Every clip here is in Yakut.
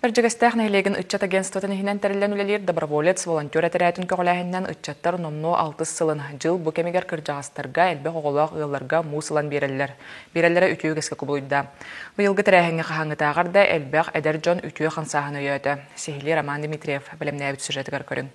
Эрдьэгэстээх нэһилиэгин ыччат агентствотын иһинэн тэриллэн үлэлиир доброволец, волонтер этэрээтин көҕүлээһининэн ыччаттар номнуо алтыс сылын, дьыл бу кэмигэр кырдьаҕастарга, элбэх оҕолоох ыалларга муус ылан биэрэллэр. Биэрэллэрэ үтүө үгэскэ кубулуйда. Быйылгы тэрээһиҥҥэ хаһааҥҥытааҕар да элбэх эдэр дьон үтүө хамсааһын өйөөтө. Сиһилии Роман Дмитриев бэлэмнээбит сюжетыгар көрүҥ.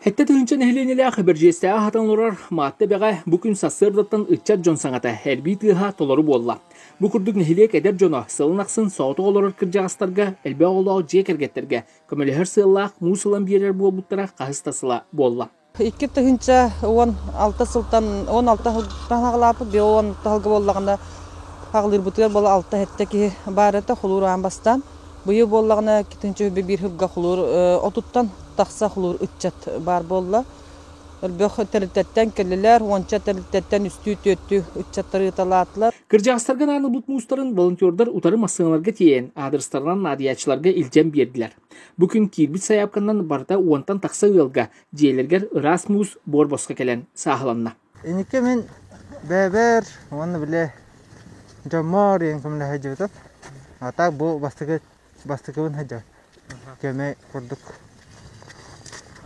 Хэттэ тыһыынча нэһилиэнньэлээх Бэрдьиэстээх аһатан олорор Маатта Эбэҕэ бу күн сарсыардаттан ыччат дьон саҥата, эрбии тыаһа толору буолла. Бу курдук нэһилиэк эдэр дьоно сылын ахсын соҕотох олорор кырдьаҕастарга, элбэх оҕолоох дьиэ кэргэттэргэ көмөлөһөр сыаллаах муус ылан биэрэр буолбуттара хаһыс да сыла буолла. Икки тыһыынча уон алта сылтан он алта аһыллааппыт биир он алта аһылга буоллаҕына аҕылыырбытыгар буола алта-сэттэ киһи баар этэ холуур аан бастаан Быйыл буоллаҕына икки түнчүгү биир сылга хулуур отуттан тахса хулуур ыччат баар буолла. Өрбөх тэрилтэттэн кэллилэр, уонча тэрилтэттэн үстүү-түөртүү ыччаттар ыыталаатылар. Кырдьаҕастарга анаабыт муустарын волонтердар утары массыыналарга тиэйэн, аадырыстарынан наадыйааччыларга илдьэн биэрдилэр. Бу күн киирбит сайаапканан барыта уонтан тахса ыалга дьиэлэригэр ыраас муус буор босхо кэлэн сааһыланна. Инники мин бэбэр уонна биле дьоммоор иэн көмлө сылдьыбытым. А так бу бастыгы бастыгыбын сылдьа көмө курдук.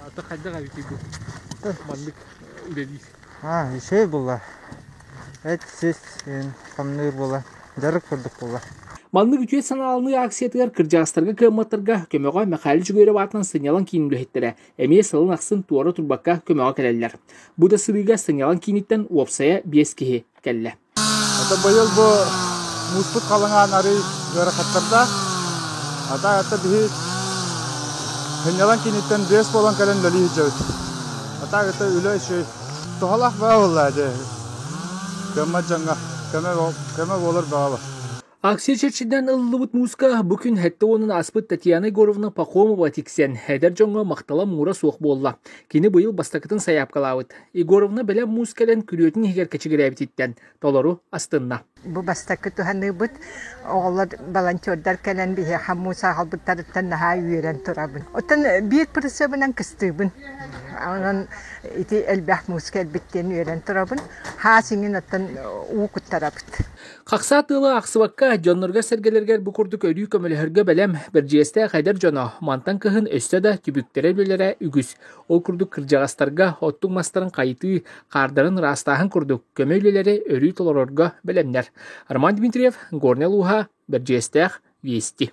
Ата хайдах эбитийбит? Маннык дэлиир. А, еще булла. Эт сис камныыр була. Жарык курдук була. Маннык үтүө санаалыныы акциятыгар кырдьаастарга кыамматтарга көмөҕө Михаил Жугирев аатынан сынньалаң киин үлэһиттэрэ эмиэ сылын ахсын туора турбакка көмөҕө кэлэллэр. Бу да сырыыга сынньалаҥ кииниттэн уопсайа биэс киһи кэллэ. Это быйыл бу мууспут халаҥаан арый ыарахаттардаах. Ата это биһи сынньалаҥ кииниттэн биэс буолан кэлэн үлэлии сылдьабыт. Ата это үлэ үчүгэй. Туһалаах баҕа буолла дьэ. Кэммэ дьаҥҥа көмө көмө буолар баҕа бар. Акция чэрчитинэн ылыллыбыт мууска бу күн сэттэ уонун аспыт Татьяна Егоровна Пахомова тиксэн, эдэр дьоҥҥо махтала муура суох буолла. Кини быйыл бастакытын сайаапкалаабыт. Егоровна бэлэм муус кэлэн күрүөтүн иһигэр кэчигирээбититтэн толору астынна. Бу бастакы туһаныыбыт. Оҕолор, волонтердар кэлэн биһиэхэ муус аахалбыттарыттан наһаа үөрэн турабын. Оттон биир прицебынан кыстыыбын. Онон ити элбэх муус кэлбит диэн үөрэн турабын. Хаас иҥин оттон уу куттарабыт. Хахсаа тыла ахсыбакка дьонноргор-сэргэлэргэр бу курдук өрүү көмөлөһөргө бэлэм, бэрдьиэстээх эдэр дьоно мантан кыһын өссө да түбүктэрэ-бүлэрэ үгүс. Ол курдук кырдьаҕастарга оттук мастарын хайытыы, хаардарын ыраастааһын курдук көмө үлэлэри өрүү толорорго бэлэмнэр. Роман Дмитриев, Горнял ууһа, Бэрдьиэстээх, Вести.